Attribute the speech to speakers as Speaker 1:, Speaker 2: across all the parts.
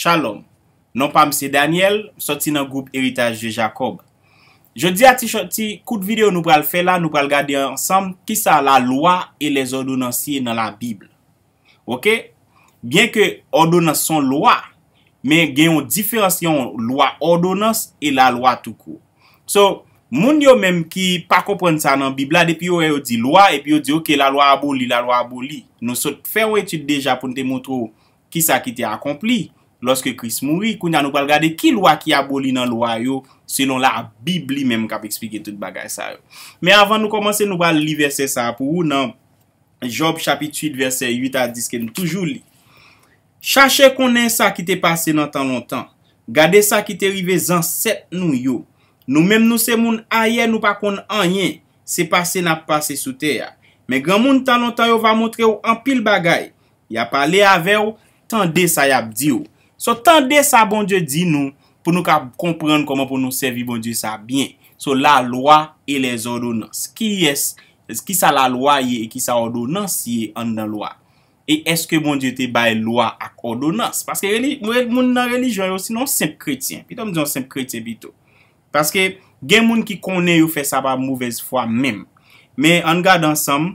Speaker 1: Shalom! Non pam se Daniel, m soti nan gwoup Heritage de Jacob. Jodi a ti chò ti kout video nou pral fè la nou pral gade ansanm kisa la loi et les ordonnances ye nan la bible. Ok byen ke òdonans son lwa men gen yon diferans yon lwa òdonans e la lwa tou kou so moun yo menm ki pa konprann sa nan bib la depi yo wè yo di lwa epi yo di ok la lwa aboli la lwa aboli nou sot fè yon etid deja poun te montre w kisa ki te akonpli lòske kris mouri kounya nou pral gade ki lwa ki aboli nan lwa yo selon la bib li menm kap esplike tout bagay sa yo men avan nou kòmanse nou pral li vèsè sa pou ou nan. Jòb chapit 8 vèsè 8 a 10 ke n toujou li, Chache konnen sa ki te pase nan tan lontan, gade sa ki te rive zansèt nou yo. Nou menm nou se moun ayè nou pa konn anyen, se pase n ap pase sou tè a. Men granmoun tan lontan yo va montre w anpil bagay, Ya pale avè w, tande sa y ap di w. So, tande sa Bondye di nou pou nou kab konprann kòman pou nou sèvi Bondye sa byen. So, lalwa e lèzòdonans. Kiyès, kisa lalwa ye e kisa òdonans ye anndan lwa? E èske Bondye te bay lwa ak òdonans? Paske reli, mwen moun nan relijyon yo si non senp kretyen. Pito m di yon senp kretyen pito. Paske gen moun ki konnen yo fè sa pa movèz fwa menm. Men ann gade ansanm.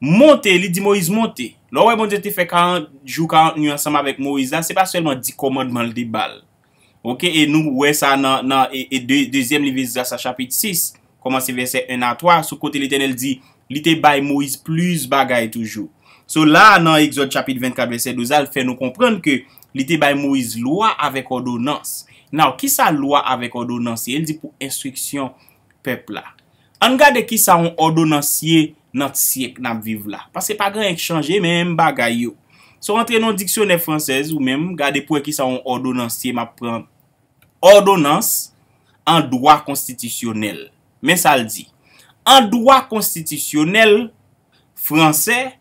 Speaker 1: Monte, li di Moyiz, monte. Lè w wè Bondye te fè 40 jou 40 nwi ansanm avèk Moyiz la, se pa sèlman 10 kòmandman l te ba l. Ok, e nou wè sa nan nan e dezyèm liv Esdras la chapit 6, kòmanse vèsè 1 a 3, sou kote Letènèl di li te bay Moyiz plis bagay toujou. So la a nan Egzòd chapit 24 vèsè 12 la, l fè nou konprann ke li te bay Moyiz lwa avèk òdonans. Now, kisa lwa avèk òdonans ye? Li di pou enstriksyon pèp la. Ann gade kisa on òdonans ye nan t syèk nap viv la. Paske pa gen anyen k chanje menm bagay yo. Si w antre nan on diksyonè fransèz ou menm gade pou wè kisa on òdonans ye map pran òdonans an dwa konstitisyonèl. Men sa l di. An dwa konstitisyonèl fransè,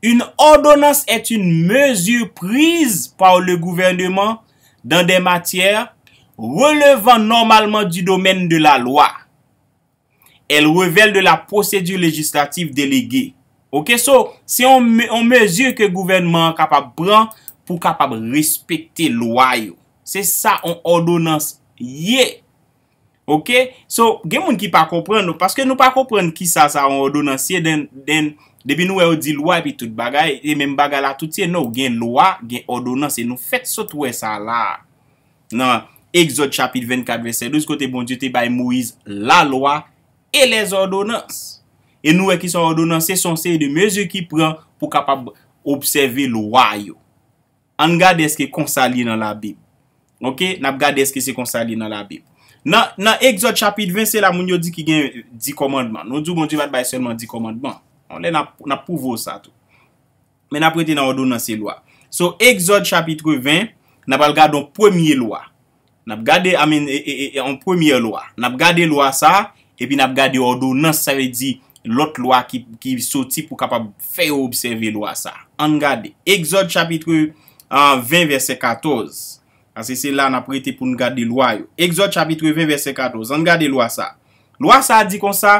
Speaker 1: une ordonnance est une mesure prise par le gouvernement dans des matières relevant normalement du domaine de la loi. Elle revèle de la procédure législative déléguée. Ok so se yon mezi ke gouvènman an kapab pran pou kapab respekte lwa yo. Se sa yon òdonans ye. Ok so gen moun ki pa konprann nou paske nou pa konprann kisa sa yon òdonans ye then depi nou wè yo di lwa epi tout bagay e menm bagay la tout ye no gen lwa gen òdonans e nou fèt sot wè sa la a. Nan Egzòd chapit 24 vèsè 12 kote Bondye te bay Moyiz lalwa e lèzòdonans. E nou wè ki sa òdonans se, se yon seri de mezi ki pran pou kapab obsève lwa yo. Ann gade èske konsa l ye nan Labib. Ok, n ap gade èske se konsa l ye nan Labib. Nan, nan Egzòd chapit 20 se la moun yo di ki gen di kòmandman. Nou di w Bondye pa t bay sèlman di kòmandman. Yon lè n ap, n ap pwouve w sa tou. Men n ap rete nan òdonans e lwa. So, Egzòd chapitre 20, n ap al gade yon premye lwa. N ap gade, I mean, yon premyè lwa. N ap gade lwa sa a, epi n ap gade òdonans, sa vle di, lòt lwa ki soti pou kapab fè yo obsève lwa sa a. Ann gade. Egzòd chapitre 20 vèsè 14. Paske se la n ap rete pou n gade lwa yo. Egzòd chapitre 20 vèsè 14. Ann gade lwa sa a. Lwa sa a di konsa,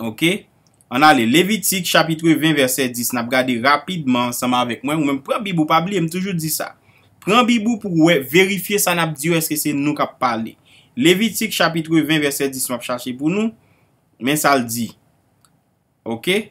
Speaker 1: Ok Ann ale Levitik chapitre 20 vèsè 10 n ap gade rapidman ansanm avèk mwen, ou menm pran bib ou pa bliye m toujou di sa pran bib ou pou wè verifye sa n ap di yo èske se nou k ap pale Levitik chapitre 20 vèsè 10 m ap chache pou nou men sa l di ok.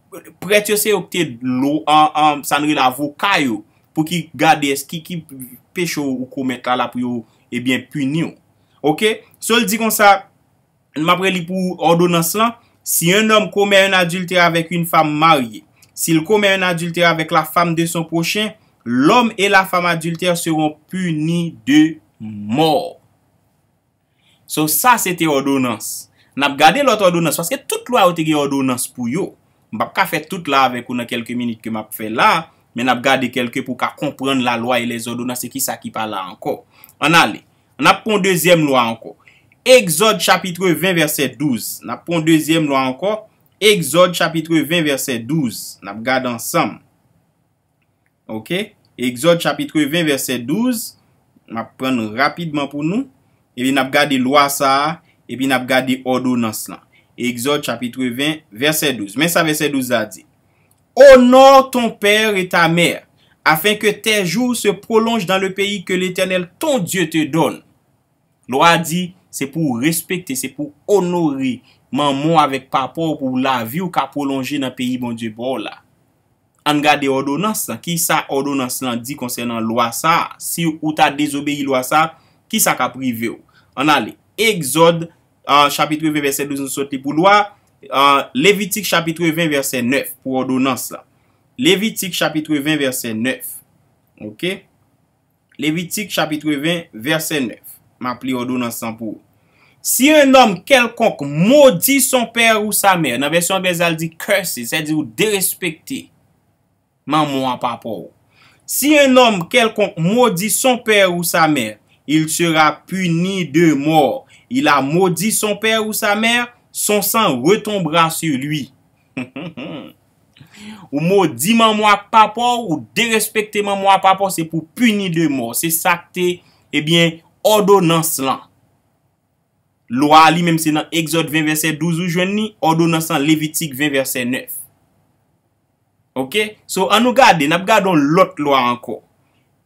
Speaker 1: Prèt yo se yo ki te dlo an, sa nou rele avoka yo, pou ki gade eski ki peche ou komèt la la pou yo ebyen pini ou. Ok? So l di konsa, m ap reli pou òdonans lan, Si un homme commet un adultère avec une femme mariée, s'il commet un adultère avec la femme de son prochain, l'homme et la femme adultère seront punis de mort. So sa se te òdonans. N ap gade lòt òdonans, paske tout lwa yo te gen òdonans pou yo. M p ap ka fè tout la avèk ou nan kèlke minit ke m ap fè la, men n ap gade kèlke pou w ka konprann lalwa e lèzòdonans e kisa ki pa la ankò. Ann ale. N ap pran yon dezyèm lwa ankò. Egzòd chapitre 20 vèsè 12. N ap pran yon dezyèm lwa ankò. Egzòd chapitre 20 vèsè 12. N ap gade ansanm. Ok, Exode chapitre 20 verset 12, map pran nou rapidman pou nou, epi nap gade lwa sa a, epi nap gade òdonans lan. Exode chapitre 20 verset 12, men sa verset 12 la di, Honore ton père et ta mère, afin que tes jours se prolongent dans le pays que l'Eternel ton Dieu te donne. Lwa a di, se pou ou respekte, se pou ou onore manman w avèk papa w pou lavi w ka pwolonje nan peyi Bondye ba w la. Ann gade òdonans lan. Ki sa òdonans lan di konsènan lwa sa a? Si ou ta dezobeyi lwa sa a, ki sa k ap rive ou? Ann ale. Egzòd, chapitre 20, vèsè 12, nou sot li pou lwa. Levitik, chapitre 20, vèsè 9, pou òdonans lan. Levitik, chapitre 20, vèsè 9. Ok. Levitik chapitre 20 vèsè 9, m ap li òdonans lan pou ou. Si yon nonm kèlkonk modi son pè ou sa mè, nan vèsyon anglèz la l di curses, sèdi ou derespekte manman an papa ou. Si yon nonm kèlkonk modi son pè ou sa mè, il sera puni de mort. Il a maudit son père ou sa mère, son sang retombera sur lui. Ou modi manmw ak papaw ou derespekte manmw a papaw se pou pini de mò se sak te ebyen òdonans lan lwa a li menm se nan egzòd 20 vèsè 12 ou jwenn li òdonans lan levitik 20 vèsè 9 ok so an nou gade nap gade yon lòt lwa ankò.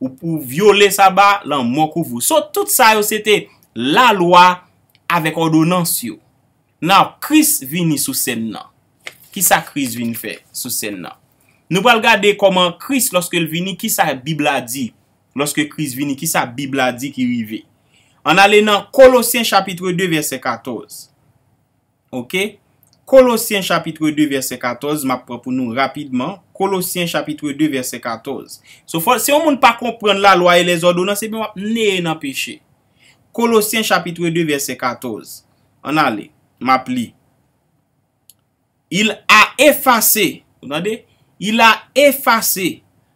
Speaker 1: Ou pou vyole saba, lanmò kouvri w. So tout sa yo se te lalwa avèk òdonans yo. Naw Kris vini sou sèn nan. Kisa Kris vin fè sou sèn nan? Nou pral gade kòman Kris lòske l vini kisa bib la di lòske Kris vini kisa bib la di ki rive. Ann ale nan Kolosyen chapitre 2 vèsè 14. Ok. Kolosyen chapitre 2 vèsè 14 map pran pou nou rapidman, Kolosyen chapitre 2 vèsè 14. So fò si yon moun pa konprann lalwa e lèzòdonans ebyen wap neye nan peche. Kolosyen chapitre 2 vèsè 14. Ann ale. Map li. Il a efase, ou tande? Il a efase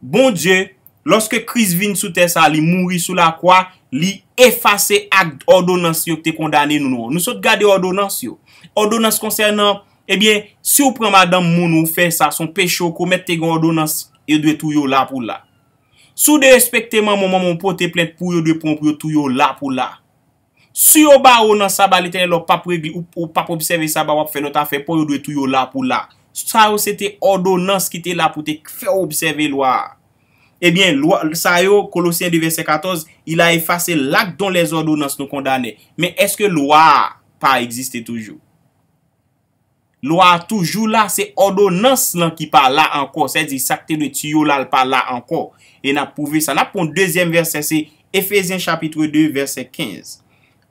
Speaker 1: Bondye, lòske Kris vin sou tè sa a, li mouri sou lakwa, li efase akt òdonans yo ki te kondane nou yo. Nou sot gade òdonans yo. Òdonans konsènan, ebyen, si ou pran madanm moun ou fè sa, son peche ou komèt, te gen òdonans, yo dwe touye w la pou la. Si w derespekte manman w, manman w pote plent pou w, yo dwe pran w pou yo touye w la pou la. Si yo bare w nan saba Letènèl la w pap regle ou pap obsève saba wap fè lòt afè paw yo dwe touye w la pou la. Sa yo se te òdonans ki te la pou te fè w obsève lwa a. Ebyen lwa sa yo, Kolosyen 2 vèsè 14, il a effacé l'acte dont les ordonnances nous condamnaient. Men èske lwa a pa egziste toujou? Lwa a toujou la, se òdonans lan ki pa la ankò, sèdi sa k te dwe tiyo la l pa la ankò. E n ap pwouve sa. N ap pran dezyèm vèsè se Efezyen chapitre 2 vèsè 15.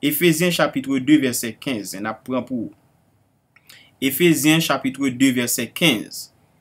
Speaker 1: Efezyen chapitre 2 vèsè 15 n ap pran pou Efezyen chapitre 2 vèsè 15.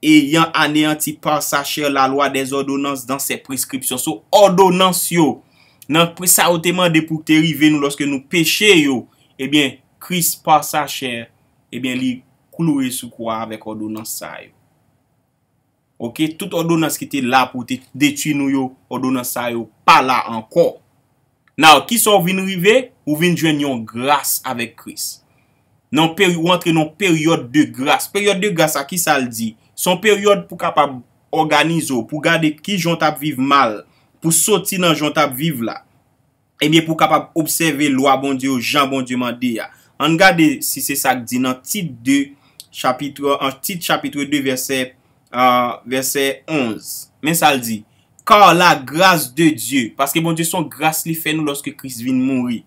Speaker 1: Eyan aneyanti par sa chère la loi des ordonnances dans ses prescriptions. So, òdonans yo, nan pri sa yo te mande pou te rive nou lòske nou peche yo, ebyen, Kris par sa chère, ebyen li kloure sou kwa a avèk òdonans sa yo. Ok, tout òdonans ki te la pou te detui nou yo, òdonans sa yo pa la ankò. Now, kisa w vin rive? Ou vin jwenn yon gras avèk Kris. Nan peri, ou antre nan yon peryòd de gras. Peryòd de gras sa, kisa l di? Se yon peryòd pou kapab òganize w, pou gade ki jan w t ap viv mal, pou soti nan jan w t ap viv la. Ebyen, pou kapab obsève lwa Bondye yo jan Bondye mande a. An n gade si se sa k di nan Tit 2, Chapitre, an Tit chapitre 2 vèsè Vèsè 11, men sa l di, Kar la gras de Dye, paske Bondye s on gras li fè nou lòske Kris vin mouri,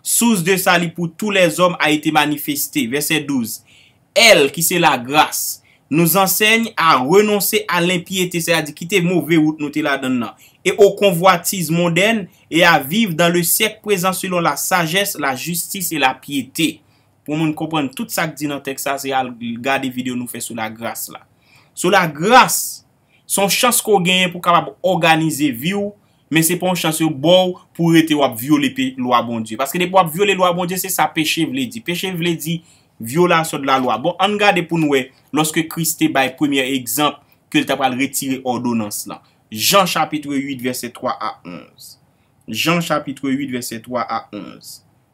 Speaker 1: sous de sali pou tou lèzòm a ete manifeste, vèsè 12, èl, ki se lagras, nous ansègn a renonse a lenpyete, sètadi kite move wout nou te ladann nan, e o konvwatiz mondèn, e a viv dan le syèk prezan selon la sajès, la jistis e la pyete. Pou moun konprann tout sa k di nan tèks sa, se al gade videyo nou fè sou lagras la. Sou lagras, se yon chans ke w genyen pou w kapab òganize vi w, men se pa yon chans yo ba w pou w rete w ap vyole lwa Bondye. Paske depi w ap vyole lwa Bondye, se sa peche vle di. Peche vle di vyolasyon de la lwa. Bon, ann gade pou n wè, lòske Kris te bay premye egzanp ke l ta pral retire òdonans lan. Jan chapitre 8 vèsè 3 a 11. Jan chapitre 8 vèsè 3 a 11.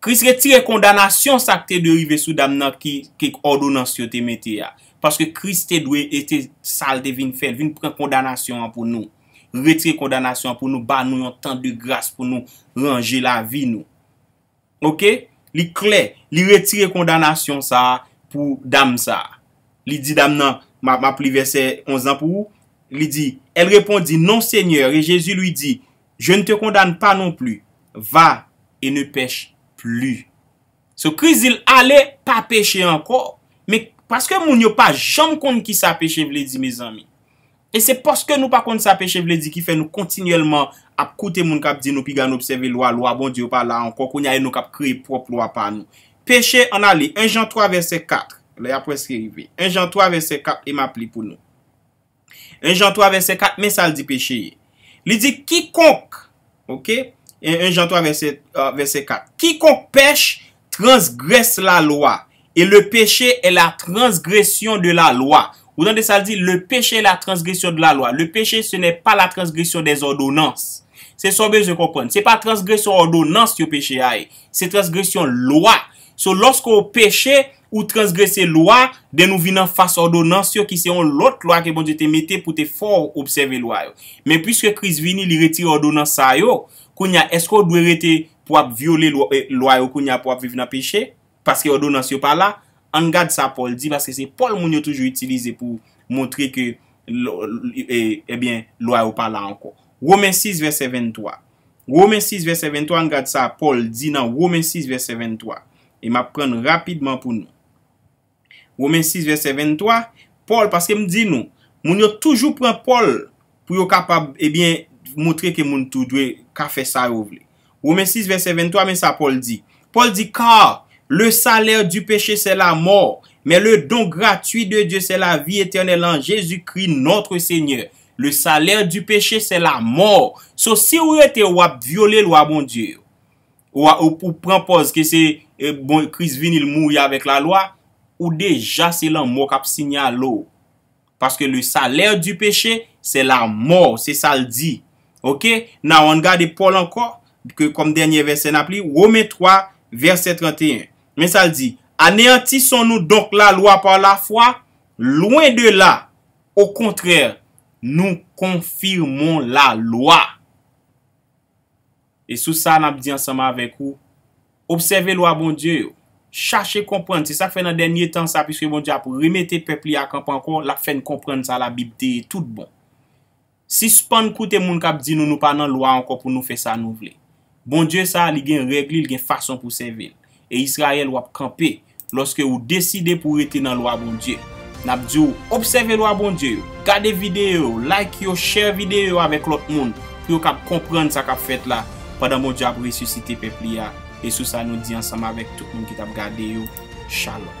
Speaker 1: Kris retire kondanasyon sa k te dwe rive sou dam nan ki ke òdonans yo te mete a. Paske Kris te dwe e te sa l te vin fè, l vin pran kondanasyon an pou nou. Retire kondanasyon an pou nou, ba nou yon tan de gras pou nou ranje lavi nou. Oke? Li klè, li retire kondanasyon sa a pou dam sa a. Li di dam nan, m ap li vèsè 11 lan pou ou, li di, El repondit, Non, Senyè, e Jezi lui dit, Je ne te condamne pas non plus, va et ne pèche plus. So Kris di l ale pa peche ankò. Men paske moun yo pa janm konn kisa peche vle di mezanmi. E se paske nou pa konn sa peche vle di ki fè nou kontinyèlman ap koute moun k ap di nou piga nou obsève lwa, lwa Bondye yo pa la ankò, kounye a e nou k ap kreye pwòp lwa pa nou. Peche, ann a li 1 Jan 3 vèsè 4, lè a prèske rive. 1 Jan 3 vèsè 4 e m ap li pou nou. 1 Jan 3 vèsè 4 men sa l di peche ye. Li di, Kikonk, ok, 1 Jan 3 vèsè 4, kikonk pèch transgrès lalwa, e le peche è la transgresyon de lalwa. Ou tande sa l di, le peche è la transgresyon de lalwa. Le peche se nè pa la transgresyon dè zòdonans. Se sa w bezwen konprann. Se pa transgresyon òdonans yo peche a ye. Se transgresyon lwa. So lòske w peche. Ou transgrese lwa, den nou vin anfas òdonans yo ki se yon lòt lwa ke Bondye te mete pou te fè w obsève lwa yo. Men piske Kris vini, li retire òdonans sa yo, kounye a, èske w dwe rete pou w ap vyole lwa yo kounye a pou w ap viv nan peche, paske òdonans yo pa la? Ann gad sa Pòl di, paske se Pòl moun yo toujou itilize pou montre ke ebyen lwa yo pa la ankò. Women 6 vèsè 23 Women 6 vèsè 23, ann gad sa Pòl di nan Women 6 vèsè 23, E m ap pran l rapidman pou nou. Women 6 vèsè 23, Pòl, paske m di nou, moun yo toujou pran Pòl pou yo kapab, ebyen, montre ke moun tou dwe ka fè sa yo vle. Women 6 vèsè 23, men sa Pòl di. Pòl di, Car le salaire du péché c'est la mort, mais le don gratuit de Dieu c'est la vie éternelle en Jésus-Christ notre Seigneur. Le salaire du péché c'est la mort. So si ou rete ou ap vyole lwa Bondye yo. Ou pran pòz ke se bon Kris vini l mouri avèk lalwa, ou deja se lanmò kap sinyale w. Paske le salè di peche se lamò, se sa l di. Ok, now ann gade Pòl ankò, ke kòm dènyè vèsè nap li, Women 3, vèsè 31. Men sa l di, Aneyantisun nou donk lalwa pa lafwa? Lwen de la! Okontrè, nou konfimon lalwa. E sou sa n ap di ansanm avèk ou, Obsève lwa Bondye yo. Chache konprann. Se sa k fè nan dènye tan sa, piske Bondye ap remete pèp li a kanpe ankò, l ap fè n konprann sa Labib te ye toutbon. Sispann koute moun k ap di nou nou pa nan lwa ankò pou nou fè sa nou vle. Bondye sa a, li gen règ li, li gen fason pou w sèvi l. E Izrayèl, w ap kanpe. Lòske ou deside pou rete nan lwa Bondye. Nap di w obsève lwa Bondye yo, gade videyo yo, like yo, share videyo yo avèk lòt moun pou yo kab konprann sa kap fèt la pandan Bondye ap resisite pèp li a, e sou sa nou di ansanm avèk tout moun ki tap gade yo, Shalom.